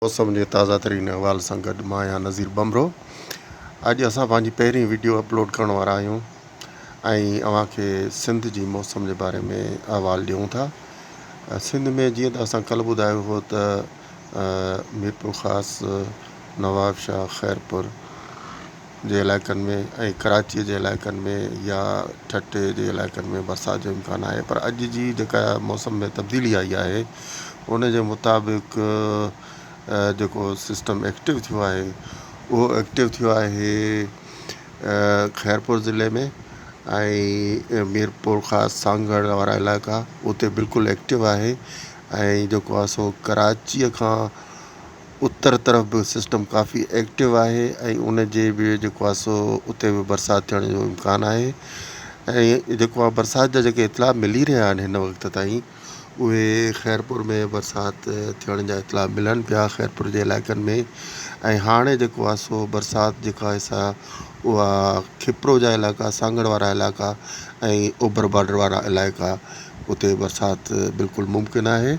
موسم جي تازه ترين احوال سان گڏ مان آهيان نظير ٻنڀرو اڄ اسان پنهنجي پهرين ويڊيو اپلوڊ ڪرڻ وارا آهيون ۽ اوهان کي سنڌ جي موسم جي باري ۾ احوال ڏيون ٿا سنڌ ۾ جيئن ته اسان ڪلهه ٻڌايو هو ته ميرپور خاص نواب شاهه خيرپور جي علائقن ۾ ۽ ڪراچيء جي علائقن ۾ يا ٺٽي جي علائقن ۾ برسات جو امڪان آهي پر اڄ جي جيڪا موسم ۾ تبديلي آئي آهي ان جي مطابق جيڪو سسٽم ايڪٽو ٿيو آهي اهو ايڪٽو ٿيو آهي خيرپور ضلعي ۾ ۽ ميرپور خاص سانگهڙ وارا علائقا اتي بلڪل ايڪٽو آهي ۽ جيڪو آهي سو ڪراچيء کان اتر طرف به سسٽم ڪافي ايڪٽو آهي ۽ ان جي به جيڪو آهي سو اتي به برسات ٿيڻ جو امڪان آهي ۽ جيڪو آهي برسات جا جيڪي اطلاع ملي رهيا آهن هن وقت تائين اهي خيرپور ۾ برسات ٿيڻ جا اطلاع ملن پيا خيرپور جي علائقن ۾ ۽ هاڻي جيڪو آهي سو برسات جيڪا آهي سا اها کپرو جا علائقا سانگهڙ وارا علائقا ۽ اوڀر بارڊر وارا علائقا اتي برسات بلڪل ممڪن آهي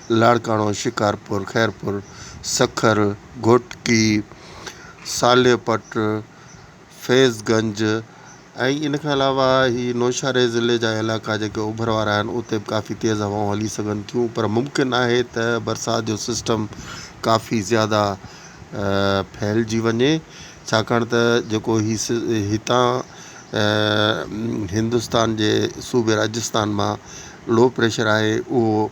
لاڙڪاڻو، شڪارپور، خيرپور، سکر، گهوٽڪي، صالح پٽ، فيض گنج ۽ ان کان علاوه هي نوشهري ضلعي جا علائقا جيڪي اوڀر وارا آهن اتي به ڪافي تيز هوائون هلي سگهن ٿيون پر ممڪن آهي ته برسات جو سسٽم ڪافي زياده ڦهلجي وڃي ڇاڪاڻ ته جيڪو هي هتان هندستان جي صوبي راجستان مان لو پريشر آهي اهو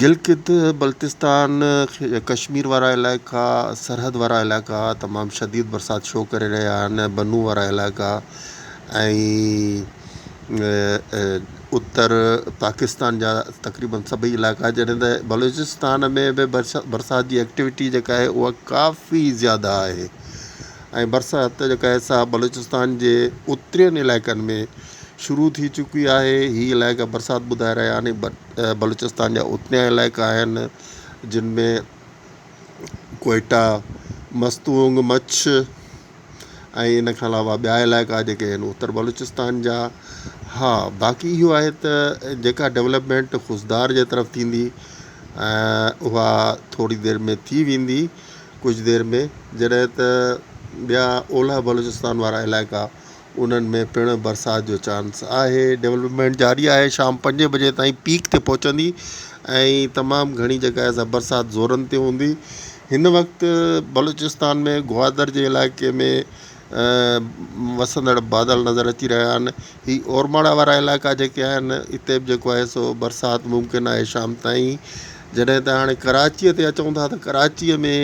گلگت بلتستان ۽ ڪشمير وارا علائقا، سرحد وارا علائقا تمام شديد برسات شو ڪري رهيا آهن، بنو وارا علائقا ۽ اتر پاڪستان جا تقريبن سڀئي علائقا جڏهن ته بلوچستان ۾ به برسات جي ايڪٽيوٽي جيڪا آهي اها ڪافي زياده آهي ۽ برسات جيڪا آهي سا بلوچستان جي اترين علائقن ۾ شروع ٿي چڪي آهي هي علائقا برسات ٻڌائي رهيا آهن بلوچستان جا اتنيا علائقا آهن جن ۾ ڪوئيٽا مستونگ مڇ ۽ ان کان علاوه ٻيا علائقا جيڪي آهن اتر بلوچستان جا ها باقي اهو آهي ته جيڪا ڊولپمينٽ خضدار جي طرف ٿيندي اها ٿوري دير ۾ ٿي ويندي ڪجهه دير ۾ جڏهن ته ٻيا اولهه بلوچستان وارا علائقا انهن ۾ پڻ برسات جو چانس آهي. ڊولپمينٽ جاري آهي، شام پنجين بجي تائين پيڪ تي پهچندي ۽ تمام گهڻي جڳهه سان برسات زورن تي هوندي. هن وقت بلوچستان ۾ گوادر جي علائقي ۾ وسندڙ بادل نظر اچي رهيا آهن. هي اورماڙا وارا علائقا جيڪي آهن اتي به جيڪو آهي سو برسات ممڪن آهي شام تائين. جڏهن ته هاڻي ڪراچيء تي اچون ٿا ته ڪراچيء ۾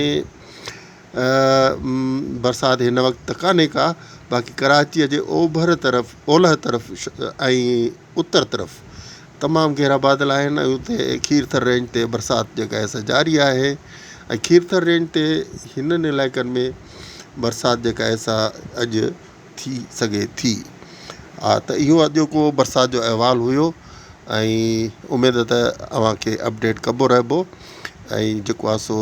برسات هن وقت ته ڪانهي ڪا باقي ڪراچيء جي اوڀر طرف، اولهه طرف ۽ اتر طرف تمام گهرا بادل آهن ۽ اتي کيرٿر رينج تي برسات جيڪا آهي سا جاري آهي ۽ کيرٿر رينج تي هنن علائقن ۾ برسات جيڪا آهي سا اڄ ٿي سگهي ٿي. ها ته اهو اڄوڪو برسات جو احوال هيو ۽ اميد ته اوهان کي اپڊيٽ ڪبو رهبو ۽ جيڪو آهي سو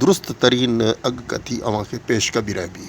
درست ترين اڳڪٿي اوهان کي پيش ڪبي رهبي.